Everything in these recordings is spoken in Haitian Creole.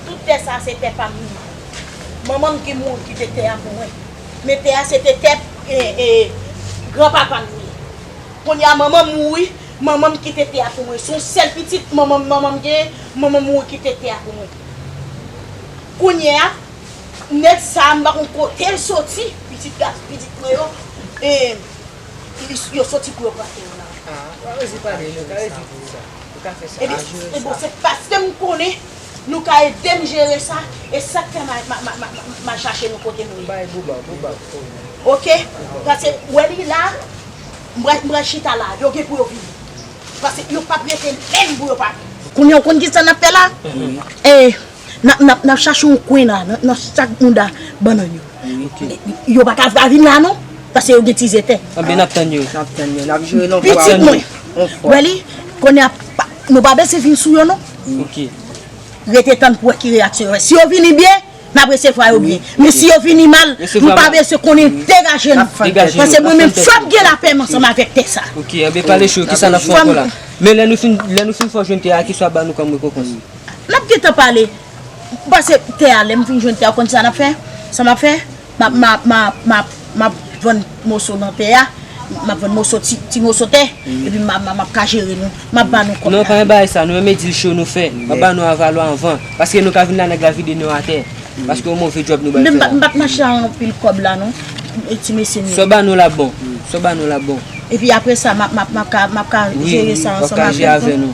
Tout tè sa se tè pam li. Manmanm ki mouri kite tè a pou mwen. Men tè a se te tè gran papam li. Kounye a manmanm mouri, manmanm kite tè a pou mwen. Se yon sèl pitit manmanm manmanm genyen, manmanm mouri kite tè a pou mwen. Kounye a. Nèg sa a m pa konn kote l soti, pitit gason pitit mwen yo e yo soti pou yo pran tè w la. E bon se paske m konnen nou ka ede m jere sa e sa k fè m al chache nou kote nou ye. Ok pase ou wè li la m pral chita la yo gen pou yo vini pase yo pap rete menm pou yo pa vini. Kounye a ou konn kisa n ap fè la? Nap nap nap chache yon kwen la nan nan chak mounda bannan yo. Yo pa ka vin la non paske yo gen ti zètè. Anben nap tann yo. Nap tann yo. Nap jere non fwa. Pitit mwen. Yon fwa. Wè li? Kounye a pa nou pa bese vin sou yo non. Ok. Rete tann pou wè ki reyaksyon yo fè. Si yo vini byen, nap resevwa yo byen. Men si yo vini mal, nou pa bese konnen degaje nou. Degaje nou. Paske mwen menm fòm gen lapèm ansanm avèk tè sa. Ok. Anben pale sou yo. Kisa nap fè ankò la? Men lè nou fin lè nou fin fò jwenn tè a, kisa wap ban nou kòm rekonpans? Nap gentan pale Pase tè a lèm fin jwenn tè a ou konn sa nap fè sa map fè map vann moso nan tè a map vann moso ti moso tè epi map ka jere nou map ba nou kòb la. Non pa gen bagay sa nou renmen dil cho nou fè map ba nou avalò anvan paske nou ka vin la nèg la vide nou atè paske yon move djòb nou bal fè la. M pap mache ak anpil kòb la non ti mesye m yo. Saw ba nou la bon Saw ba nou la bon. Epi apresa map ka jere sa ansanm avèk nou.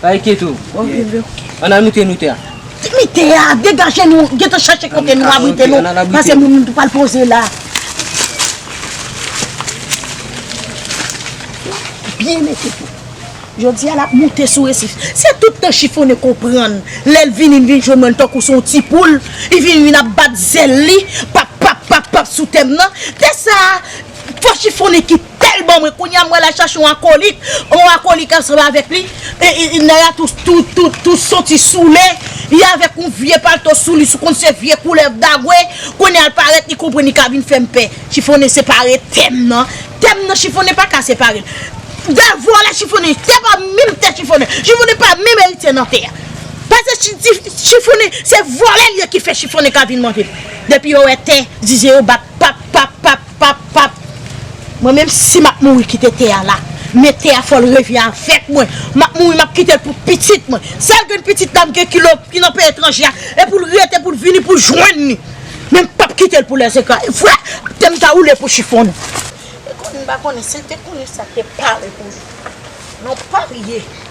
Pa enkete ou. Ann al moute nou tè a. Ki mi tè a? Degaje nou. Gen tan chache kote nou abrite nou. Pase moun nou pral poze la. Byen mete tou. Jodi a l ap moute sou resif. Se tout tan chifonnen konprann. Lè l vini l vin jwenn mwen tankou s on ti poul. Li vin vin ap bat zèl li. Pap pap pap pap sou tè m nan. Tè sa a fò chifonnen kite. Tel bon mwen kounya mwen la chache yon akolik yon akolik ansanm avek li nèg la tou soti soule li avek yon vye palto sou li sou konn se vye koulèv dagwe kounya li parèt li konprann li ka vin fèm pè chifonnen separe tèm nan tèm nan chifonnen paka separel Davo ala chifonnen tè pa menm tè chifonnen chifonnen pa menm eritye nan tè pase chifonnen se vòlè li ye ki fè chifonnen ka vin manjel depi yo wè tè zize yo bat pap pap pap. Pap pap Mwen menm si map mouri kite tè a la Men tè a fòl revi avèk mwen Map mouri map kitel pou pitit mwen Sèl grenn pitit la mgen ki lòk ki nan peyi etranje a E poul rete poul vini poul jwenn li Men mpap kitel pou lèzekra E vre tèm ta woule pou chifonnen E konnen mpa konnen sil te konnen sa te pare pou li Non pa vye.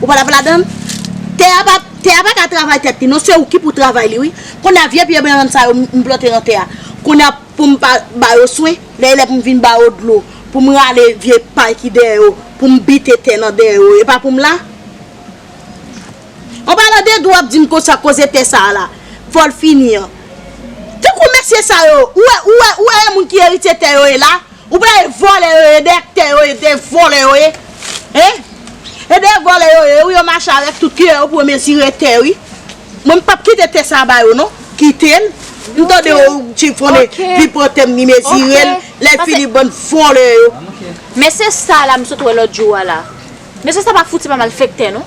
Ou pa tap ladann? Tè a pa tè a paka travay tèt li non se ou ki pou travay li wi konnya vye pye bannann sa yo m plante nan tè a konnya poum pa ba yo swen lè lè poum vin ba yo dlo poum rale vye pay ki dèyè yo poum bite tè nan dèyè yo e pa poum la an palan de dlo wap dim konsa koze tè sa la fòl fini an tankou mesye sa yo ou wè ou wè ou wè e moun ki eritye tè yo e la. Ou pa wè vòlè yo ye dèktè yo ye de vòlè yo ye hein e de vòlè yo ye wi yo mache avèk tout kiyè yo pou yo mezire tè wi mwen m pap kite tè sa ba yo non kite l m tande yo chifonnen li pran tè m li mezire l lè fini bann vòlè yo. Mesye sa la m sot wè lòt jou a la mesye sa pa fouti pa malfektè non.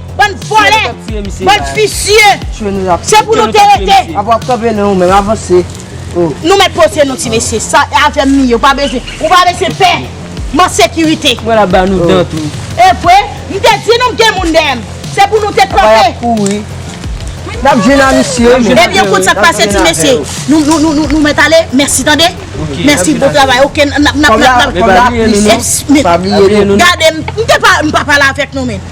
Bann vòlè! Bann visye! Se pou nou te rete! Nou mèt pote nou ti mesye! Sa e avèm li ye! Ou pa bezwen! Ou pa bezwen pè! M an sekirite! E vre! M te di nou m gen moun dèyè m! Se pou nou te kanpe! Ebyen kout sa k pase ti mesye! Nou mèt ale! Mèsi tande! Mèsi bon travay! Ok! N ap n ap n ap! Gade m! M te pa! M pa pale avèk nou men!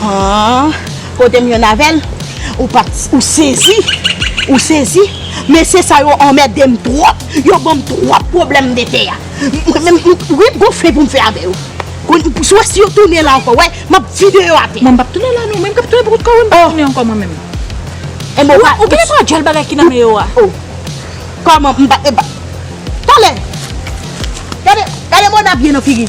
Haa Kotem jwenn avèl Ou pat Ou sezi Ou sezi Mesye sa yo anmèdem twòp Yo banm twòp pwoblèm dete a Mwen menm Mwen gon fen poum fè avè yo Sou wè si yo tounen la ankò wè Map vide yo atè Mwen pap tounen la non Mwen kap tounen pou kout kòm Mwen pap tounen ankò mwen menm Ou genlè pran djòl bagay ki nan men yo a Oh Kòman Mpa Talè Gade Gade Mona byen nan figi